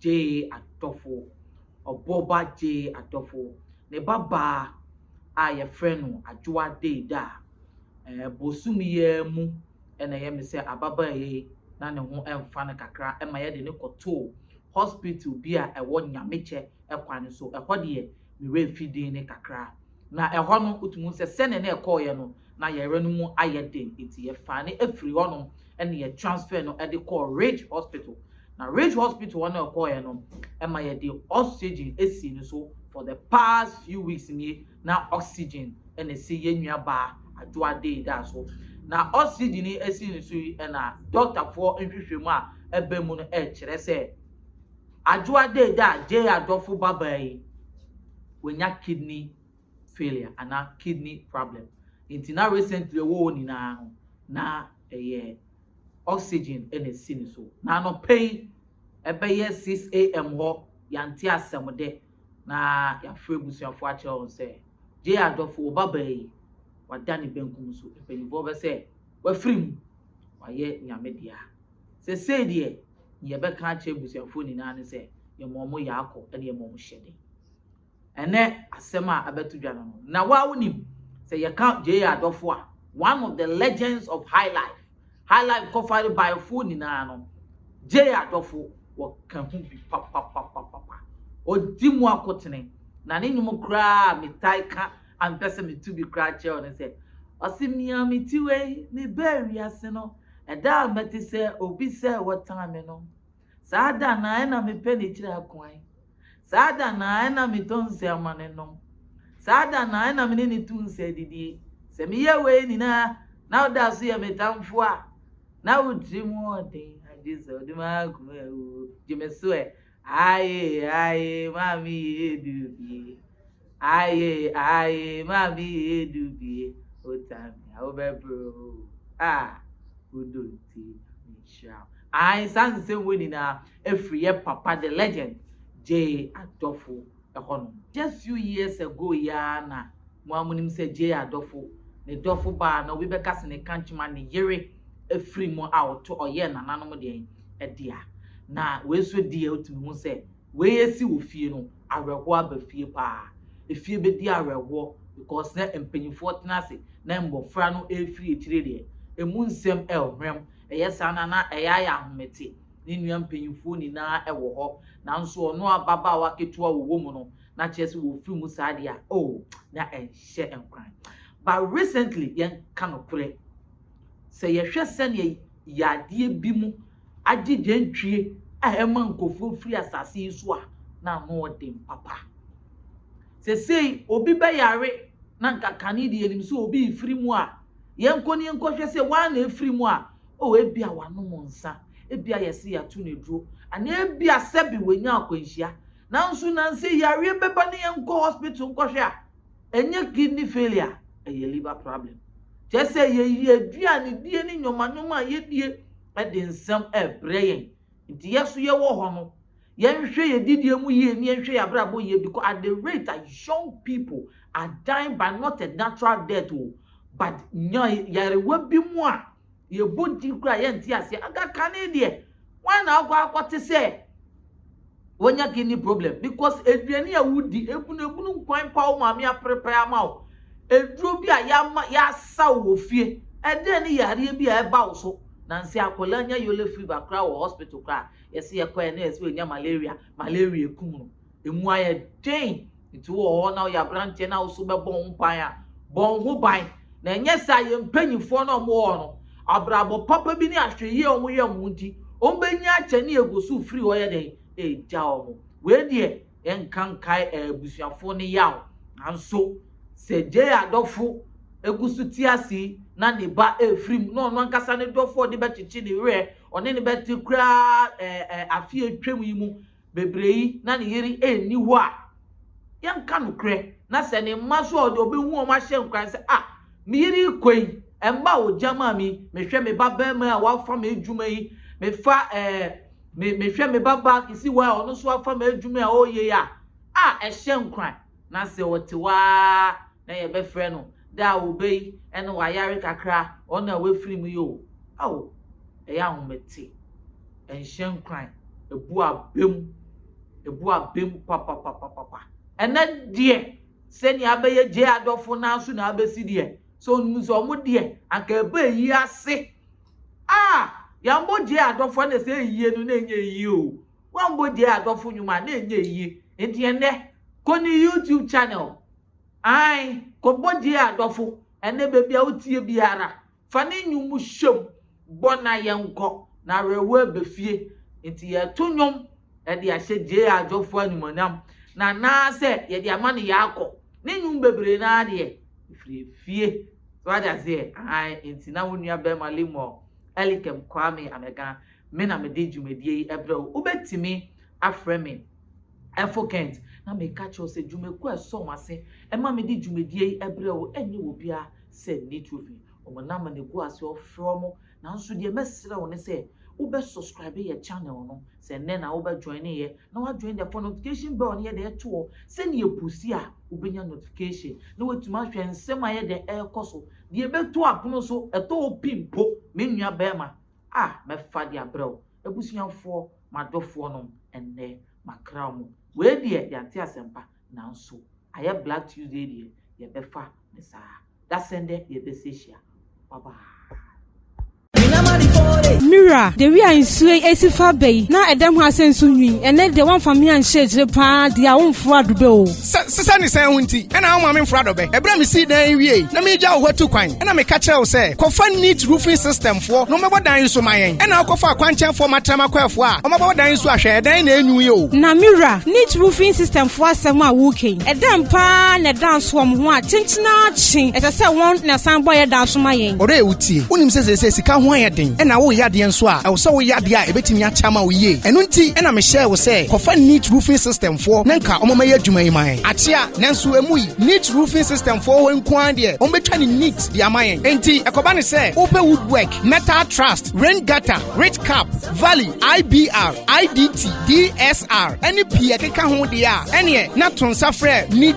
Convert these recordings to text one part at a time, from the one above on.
gyee adɔfo. Ɔbɔba gyee adɔfo. Ne babaa a wɔfrɛ no Adwoa Deidaa, ɛɛ bosom yi ara mu na ɛyɛ me sɛ ababaa yi na ne ho mfa no kakra ma wɔde no kɔtoo hospital bi a ɛwɔ Nyamekyɛ kwan so. Ɛhɔ deɛ, me werɛ fi din no kakra. Na ɛhɔ no, wotumi hu sɛ sɛnea na ɛkɔeɛ no, na yayra no mu ayɛ den, enti yɛfaa no firii hɔnom na yɛ transfer no de kɔɔ Ridge Hospital. Na Ridge Hospital hɔ na ɔkɔeɛ no, ɛma yɛde oxygen sii no so for the past few weeks nie, na oxygen na ɛsi yɛn nua baa Adwoa Deedah so. Na oxygen yi ɛsi no so yi na dɔktafoɔ nhwehwɛmu a ɛbaa mu no ɛrekyerɛ sɛ, Adwoa dee da a Jay adɔfo babaa yi wanya kidney failure anaa kidney problem nti na recently ɔwɔ hɔ nyinaa no na ɛyɛ oxygen na ɛsi ne so. Na anɔpa yi ɛbɛyɛ 6am hɔ yɛante asɛm de na yɛafrɛ abusuafo akyerɛ wɔn sɛ Jay adɔfo wo babaa yi wada ne benkum so, mpaninfoɔ bɛ sɛ wafiri mu wayɛ Nyame dea. Sesei deɛ, nea yɛbɛka akyerɛ abusuafoɔ nyinaa ne sɛ, yɛma wɔn yɛ akɔ na yɛma wɔn hyɛ den. Ɛnnɛ asɛm a abɛto dwa no no, na wo ara wonim, sɛ yɛka J.A. Adɔfo a, one of the legends of Highlife, Highlife Kɔfare baeɛfoɔ nyinaa no, J.A. Adɔfo, wɔka ho bi papapapapa. Ɔdi mu akotene, na ne nnwom koraa a metae ka a mepɛ sɛ meto bi koraa kyerɛ wo ne sɛ, Ɔse mea me ti wei, mebaa wiase no, Ɛda a mɛte sɛ obi sɛ wɔtan me no, saa da no ara na mepɛ ne tiri akuan. Saa da no ara na metɔ nsa ma no nom. Saa da no ara na me ne no to nsa didi. Sɛ meyɛ wei nyinaa na woda so yɛ me tamfo a, na wo tirim wɔ den, agye sɛ wode m'akoma awu. Gye me so ɛ, Aye aye maame yee du bie. Aye aye maame yee du bie. Otamia wo bɛ bro o. Ah wo do nti nyame nhyira wo. Aye saa nsɛm wei nyinaa ɛfiri yɛ papa the legend Jay Adofo ɛhɔ nom. Just few years ago yi ara na mo ara monim sɛ Jay Adofo ne dɔfo baa na obi bɛka sɛ ne kankyema ne yere afiri mu a ɔto ɔyɛɛ nananom deɛn ɛdea na wei nso deɛ wotumi hu sɛ wei asi wɔ fie no awerɛhoɔ aba fie paa efie bɛdi awerɛhoɔ because na mpanyinfoɔ tena ase na mmɔfra no ɛrefiri akyire deɛ ɛmu nsɛm ɛrehwerɛm ɛyɛ saa na na ɛyɛ ayɛ ahomete ne nua mpanyimfoɔ nyinaa wɔ hɔ, nanso ɔno ababaawa ketewa ɔwɔ mu no, na kyerɛ sɛ wɔfiri mu saa deɛ a, oh, na ɛnhyɛ nkuran. But recently, yɛnka nokorɛ, sɛ yɛhwɛ sɛdeɛ yadeɛ bi mu agye dwantwie a ɛma nkurɔfoɔ firi asase yi so a, na ano ɔden papa. Sesei, obi bɛyare na nka kane deɛ yɛnim sɛ obi refiri mu a, yɛnkɔ ne yɛnkɔhwɛ sɛ wɔn a na ɛfiri mu a, Oh, ebia wanom nsa, ebia yɛse yɛato no aduro, anaa ebia sɛbe wanya akwanhyia. Nanso nansa yi yareɛ bɛba na yɛnkɔ hospital nkɔhwɛ a, ɛnyɛ kidney failure, ɛyɛ liver problem. Kyerɛ sɛ yɛyi aduanedie ne nnwomannwoma a yɛdie de nsɛm rebrɛ yɛn. Nti yɛn nso yɛwɔ hɔ no, Yɛnhwɛ yɛn gyidie mu yie ne yɛnhwɛ yɛn abrabɔ yie because at the rate a young people are dying by not a natural death o but nya yarewa bi mu a yɛbɔ din koraa yɛnte aseɛ aga kane deɛ wɔn na akɔ akɔte sɛ wɔnya kidney problem because aduane a wodi ebunu ebunu nkwan pa wo maame aprepae ama wo aduro bi a yɛama yɛasa wo wɔ fie ɛdɛn ne yareɛ bi a ɛba wo so nansi akwadaa nya yellow fever koraa wɔ hospital koraa Yɛse yɛkɔɛ na yɛse wanya malaria, malaria ekum no, emu ayɛ den, nti wowɔ hɔ na woyɛ aberanteɛ na woso bɛbɔ ho ban a, bɔ wo ho ban, na ɛnyɛ saa yɛn mpanyinfoɔ na wɔwɔ hɔ no, abrabɔ papa bi ne ahwɛyie a wɔyɛ mo nti, wɔbɛnya akyɛ ne yɛgoso firi hɔ yɛdɛn, ɛregya wɔn, wei deɛ. yɛnka nkae abusuafo no yaw. Nanso, sɛ Jay adɔfo gu so te ase yi, na ne ba refiri mu, na ɔno ankasa ne dɔfo a ɔde bɛkyekye ne werɛ, ɔne no bɛte koraa ɛɛ afe a atwam yi mu bebree yi, na ne yere nni hɔ a, yɛnka nokorɛ, na sɛ ne mma nso a ɔde ɔbɛhu wɔn ahyɛ nkuran sɛ, ah, me yere rekɔ yi, mma a ɔgya maa me yi, mehwɛ me babarima a wafa m'adwuma yi, mefa ɛɛ. Me mehwɛ me babaa kesi hɔ a ɔno nso afa m'adwuma a ɔreyɛ yi a, ah ɛhyɛ nkuran. Na sɛ ɔte hɔ ara na yɛbɛfrɛ no dɛ a Obey ɛna wayare kakra a, ɔno na wafiri mu yi o. Ao! Ɛyɛ ahomete. Ɛnhyɛ nkuran. Ɛbu abam. Ɛbu abam papapapapa. Ɛnɛ deɛ, sɛnea abɛyɛ Jay adɔfo no ara so na abɛsi deɛ. Sɛ ɔnim sɛ wɔn deɛ, anka ɛbɛɛ yi ase. Ah! Yɛambɔ gyee adɔfo a na sɛ eyiye no na enye eyiye o. Woambɔ gyee adɔfo nnwom a na enye eyiye. Enti ɛnnɛ, kɔ ne YouTube channel. Ae, kɔbɔ gyee adɔfo. Ɛnnɛ baabi a wotie biara, fa ne nnwom hyɛ mu, bɔ na yɛnkɔ, na awerɛhow aba fie. Enti yɛreto nnwom. de ahyɛ JR Dwɔfoɔ animuonyam, na anaasɛ yɛde ama no yɛakɔ. Ne nnwom bebree no ara deɛ, ɛfiri efie. So wate aseɛ? Ahan, enti na wo nua barima Lemuel Elikem Kwame Amegan, me na mede dwumadie yi brɛ wo. Wobɛtumi afrɛ me Ɛfo Kent, na meka kyerɛ wo sɛ dwumakuo a ɛsɔ wɔn ase ma mede dwumadie yi brɛ wo nyɛ obiara sɛ Nitro fi. Wɔn nam na ɛgu aseɛ, wɔfrɛ wɔn, Nanso deɛ mɛsrɛ wo ne sɛ wobɛ subscribe yɛ channel no, sɛ nnɛ na wobɛ joine yɛ na wa join dɛ fa notification bell no yɛdɛ to hɔ sɛnea yɛ posi a wobɛnya notification na watumi ahwɛ nsɛm a yɛdɛ ɛɛkɔ so deɛ ɛbɛto apono so ɛtɔ wo pi mpo me nua bɛɛma a mɛfa de abrɛ wo abusuafoɔ madɔfoɔ nom ɛnnɛ makra ɔmo wei deɛ yɛante asɛmpa nanso ayɛ black Tuesday deɛ yɛbɛfa ne saa. Dasen dɛ yɛbɛsa ehyia. Bye bye. Mira, Dewi a nsuo yi asi fa bɛ yi, na ɛdɛm ha sɛ nsu nwii. Ɛnnɛ deɛ woamfa me anhyɛ akyire paa deɛ a womforo adobɛ o. Sɛ sesɛ ne sɛn ho nti na womma me mforo adobɛ? Ɛberɛ a mesii dan yi wiei na meregya wo hɔ atu kwan na meka kyerɛɛ wo sɛ, Kɔfa Neat Roofing System foɔ na wɔmmɛbɔ dan yi nso ma yɛn. Ɛnna wokɔfaa kwankyɛnfoɔ matrama kwaafoɔ a wɔabɛbɔ dan yi nso a hwɛ, ɛdan yi na ɛnwu yi o. Na Mira, Neat Roofing System foɔ asɛm a worekɛ yi, ɛdɛn paa na ɛda nsoɔm ho a kyenkyen? Daakye, ɛsɛ sɛ wɔn na ɛsan bɔ yɛn da so ma yɛn. Ɔdɔ a ɛwɔ ti. Wonim sɛ seesei sika ho ayɛ den, ɛnna woreyɛ adeɛ nso a, ɛwɔ sɛ woyɛ adeɛ a ɛbɛtumi akyɛ ama wo yie. Ɛno nti na mehyɛɛ wo sɛ kɔfa Neat Roofing System foɔ na nka wɔmmɛyɛ adwuma yi ma yɛn. Akyea, nanso emu yi, Neat Roofing System foɔ hɔ nko ara deɛ, wɔbɛtwa no neat de ama yɛn. Enti ɛkɔba no sɛ wopɛ woodwork, metal trust, rain gutter, ridge cap, valley, IBR, IDT, DSR, ne pii a ɛkeka ho deɛ a, ɛnneɛ na to nsa frɛ Neat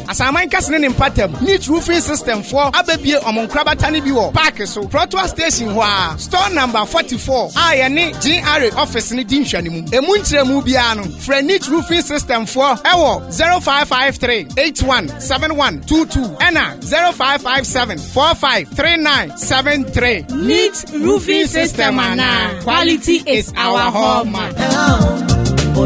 Asaman kɛse ne ne mpatam Neat Roofing System foɔ abɛbue wɔn nkorabata no bi wɔ park so, Trottoir Station hɔ ara, Store Number 44 a yɛne GRA office no di nhwɛanimu. Ɛmu nkyerɛmu biara no, frɛ Neat Roofing System foɔ wɔ 0553 81 7122 ɛna 0557 45 3973. Neat Roofing System anaa Quality is our hallmark. Oh, oh,